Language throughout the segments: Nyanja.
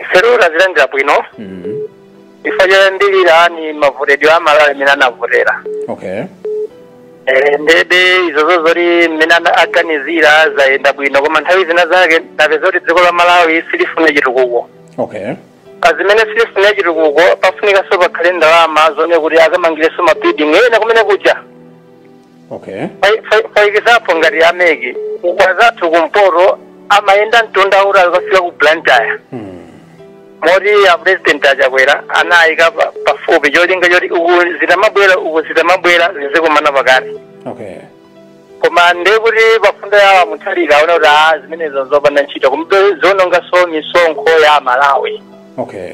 ifeyo tazilandira bwino mm. ife choyambirira ni mavotedwe amalawi mmene anavotera okay Eh, ndebe izozo zoti mmene ana- aganizira zayenda bwino koma nthawi zina zake tapeza kuti dziko la malawi silifuna chitukuko okay pazimene silifuna chitukuko pafunikanso pakhale ndalama zonse kuti akamangireso mabuilding ena kumene kuja okay for, for, for example ngati ameki kwa azathu kumpoto amayenda mtunda uja akafika ku blantyre moti a president a Chakwera anayika pa- pafupi cholinga choti uku zitamabwera uku zitamabwera zizikumana pakati okay koma ndekuti pamfundo yawo a Mutharika aona kuti a zimenezo zopanda ntchito koma zoonongaso misonkho ya amalawi okay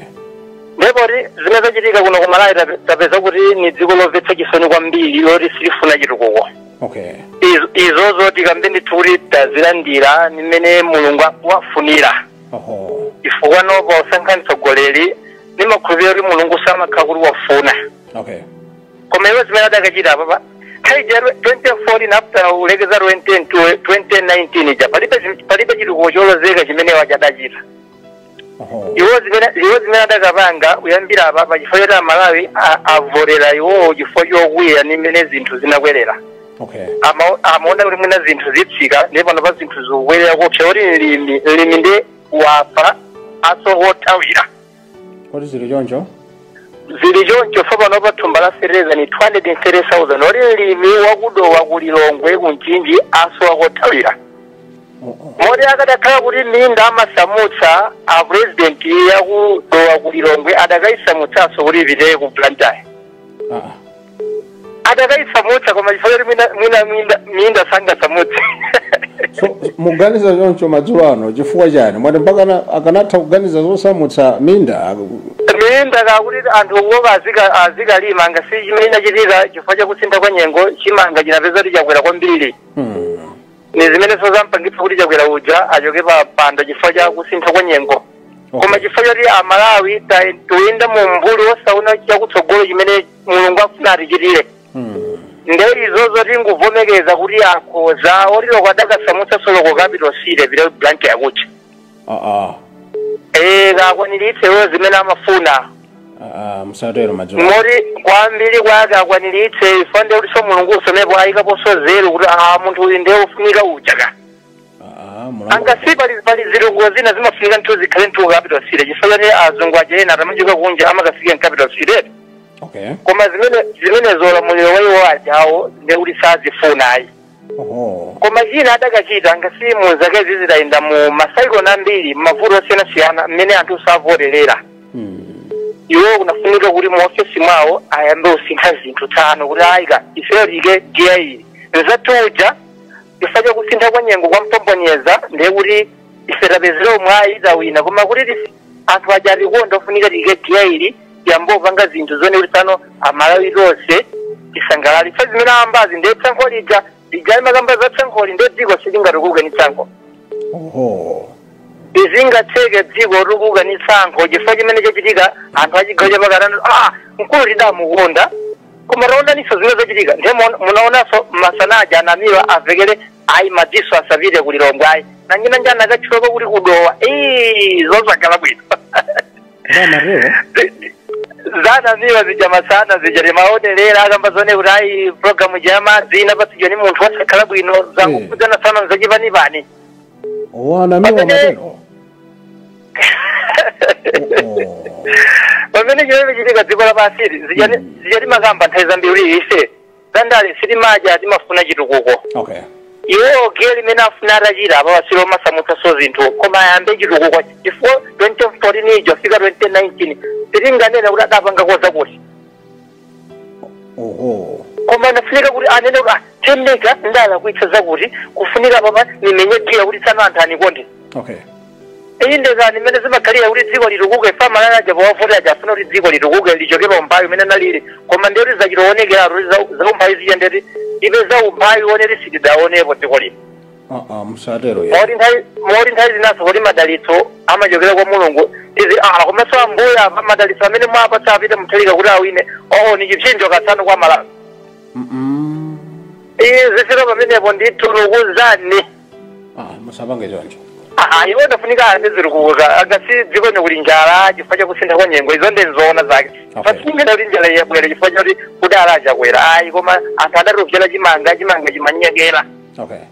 ndiye poti zimene zachitika kuno ku malawi tape- tapeza kuti ni dziko lomvetsa chisoni kwambiri loti silifuna chitukuko okay Izo- izozo tikambe ndithu kuti tazilandira nimene mulungu wafunira oho chifukwa popa osankha mtsogoleri nimakhulupirira kuti mulungu amakhala kuti wafuna okay koma iwo zimene adachita apapa nthawi ja 2014 after kulekeza 2010 to 2019 ja palibe zim- palibe chitukuko cholozeka chimene waja adachita Oho. iwo zimene iwo zimene adakapanga kuyambira apapa chifukwa choti amalawi a- avotera iwowo chifukwa chokwiya ndi mmene zinthu zinakwerera Okay. Ama- amaona kuti mwina zinthu zitsika ndipo panopa zinthu zikukwerera koopsa kuti mlimi mlimi ndi wafa asowa kothawira Kodi zili choncho? zili choncho ifa panopa thumba la feteleza ni 230,000 oti mlimi wakudowa ku lilongwe ku mchinji asowa kothawira moti akadakhala kuti minda amasamutsa a president yakudowa ku lilongwe adakayisamutsanso kuti ipite ku blantyre Ah, adakayisamutsa koma chifukwa choti mwina- mwina minda- minda sangasamutse so muganiza choncho madzulo ano chifukwa chani mwati mpaka ana- akanatha kuganiza zosamutsa minda minda kakuti anthu kuopa azika- azikalima ngati si chimene chinachitika chifukwa chakusintha kwa nyengo chimanga chinapeza kuti chakwera kwambiri Hmm. ni zimenenso zampangitsa kuti chakwera uja achoke pa pando chifukwa cha kusintha kwa nyengo Okay. koma chifukwa choti amalawi ta- tuyenda mu mbuli osaona chakutsogolo chimene mulungu afuna atichitire Mm. nde izozo tinguvomekeza kuti akhoza olo adakasamutsa soloko capital city ipite Blantyre kuja aa Eh, akakwaniritse iwo zimene amafuna aa musatero madzulo moti kwambiri kwake akwaniritse ife nde kutinso mulungu asonepo ayikaponso nzeru kuti a munthu uyu ndiye wofunika ujaka aa mulungu angasi pali pali zilungu zina zimafunika nthu zikhale nthu capital city chifukwa chani azungu aja akamachoka kunja amakafika in capital city eti okay koma zimene zimene zolamuliro waiwo ajawo ndekuti sazifuna ayi oho koma china adakachita ngati mu zakezi zidayenda mu masaikoni ambiri m'mavuto osiyanasiyana mmene anthu savoterera Mm. iwo kunafunika kuti mu ofesi mwawo ayambe kusintha zinthu tsano kuti ayi ka ifeyo tiike giya ili nzatuja chifukwa cha kusintha kwa nyengo kwampombonyeza ndiye kuti ife tapezera umwayi tawina koma kuti tis- anthu aja atikonde ofunika tiike giya ili tiyambe kupanga zinthu zone kuti pano amalawi tonse tisangalale fa zimene ayambazi ndiye tsankho lija lija timakamba za tsankholi ndiye dziko silingatukuke ni tsankho oho sizingatheke dziko kutukuka ni tsankho chifukwa chimene chachitika anthu achigawo chapakati anati ah mkulu tidamukonda Koma taonaninso zimene zachitika ndiye muona- munaonanso masana aja a Namiwa amvekere ayi madzinso asapite ku lilongwe ayi nanji nanji anakatchulako kuti ku Dowa Ii, zosakhala bwino Nda Marrero. za a Namiwa zija masana zija timaonerera akamba zone kuti ayi programu ija yamadzi inapatsidwa ni munthu wosakhala bwino Mm. zokhudzana sana nzachipanipani a Namiwa Pamene- amatero. pamene chimene chimachitika dziko lapansili zija timakamba nthawi zambiri ife zandale sitimadya timafuna chitukuko okay iwo giyali limene afuna atachita apa wasiro omasamutsanso zinthu koma ayambe chitukuko chifukwa 2014 ija fika 2019 sitinganena kuti adapanga koza kuti oho koma anafunika kuti anene kuti "Ah, temeka ndalakwitsa zakuti kufunika apapa nimenye giya kuti tsano anthu anikonde okay iyi nde kani mmene zimakhalira kuti dziko litukuke fa amalawi aja powavoti aja afuna kuti dziko litukuke lichoke pa umphawi umene nalili koma ndiye kuti zachitoonekera kuti za- za umphawi zija ndeti tipeza umphawi woneti sitidaonepo dziko lino aa musatero ya moti nthawi moti nthawi zinanso kuti madalitso amachokera kwa mulungu izi ah komanso ambuya apa madalitso amene mwapatsa a Peter Mutharika kuti awine oo ni chipsinjo ka tsano kwa amalawi Mm-mm. iye zifika pamenepo nditu ndikuuzani ah musapange choncho Ah, iwo anafunika ande ziri kuuza ngati dziko lino kuli njala chifukwa chakusintha kwa nyengo izo ndi nzoona zake Okay. sitinganene kuti njala yabwera chifukwa chakuti kudali a Chakwera ayi koma anthu adatopsera chimanga chimanga chimanyekera okay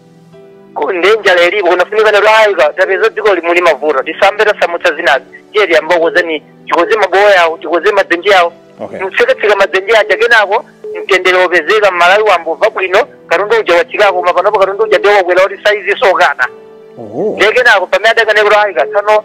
Ku- ndi njala ilipo kunafunika anene kuti ayi ka tapeza dzikoli muli mavuto tisayambe tasamutsa zinazi tiye tiyambe kukonza ni tikonze mabowo awo tikonze madzenje awo okay mtsekatseka madzenje aja kenako mtendere wopezeka mmalawi ayambomva bwino katundu uja watsikako koma panopo katundu uja ndi wokwera kuti saizi sokana oho ndiye kenako pamene adakanena kuti ayi ka tsano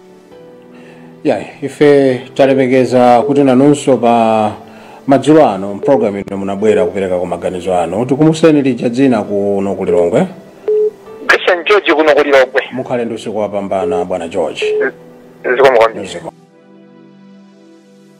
ya ife talemekeza kuti nanunso pa madzulo ano mpulogalamu ino munabwera kupereka kwa maganizo anu tikumbutseni lija dzina kuno ku lilongwe christian george kuno ku lilongwe mukhale ndi usiku wapambana bwana george zikomo kwambiri Zikomo.